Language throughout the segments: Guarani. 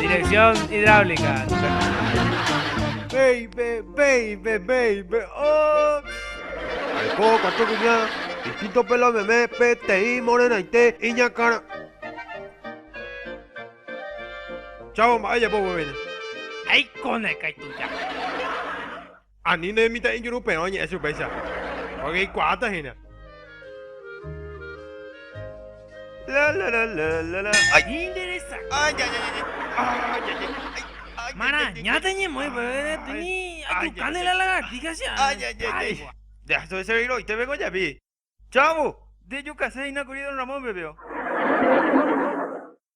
Dirección hidráulica. Baby, baby, baby, oh. Aiko katu kuña, distinto pelo meme, peteĩ morenaite, iñakãra. Chavo mba'e japo guevéne. Aikóna ikaituja. Ani ne mitã'ijuruperõ añe'ẽ chupéicha, pórke ikuaáta hína. Marañáta ñemoĩ peve timi ajukáne la lagartija che ári. Ndeaso che reíroite pe ko jepi. Chávo, ndejukase hína kuri don Ramón pepeo.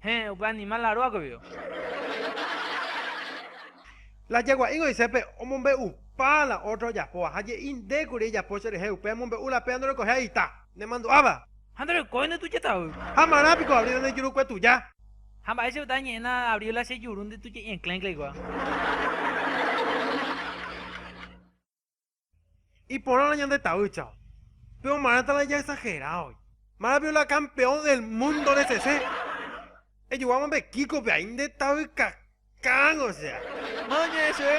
Héẽ, upe animál la róga guive. La jagua'i goise pe omombe'upa la ótro ojapóva, ha je'i, Nde kuri ejapo cherehe upe amombe'u la péva ndorekoiha ita, nemandu'áva. Ha ndorekói nde tujetavy. Ha marã piko abríla nde jurukue tuja. Ha mba'e che uta añe'ẽna abríla che juru nde tuje'i enclén cléigua. Iporãrõ ñande tavýchao. Pe omarãta la jaesagerávoi. Maravillo la campeón del mundo de sese. Ejoguáma pe Kiko-pe ai nde tavykakán osea. Má oñe'ẽ chéve.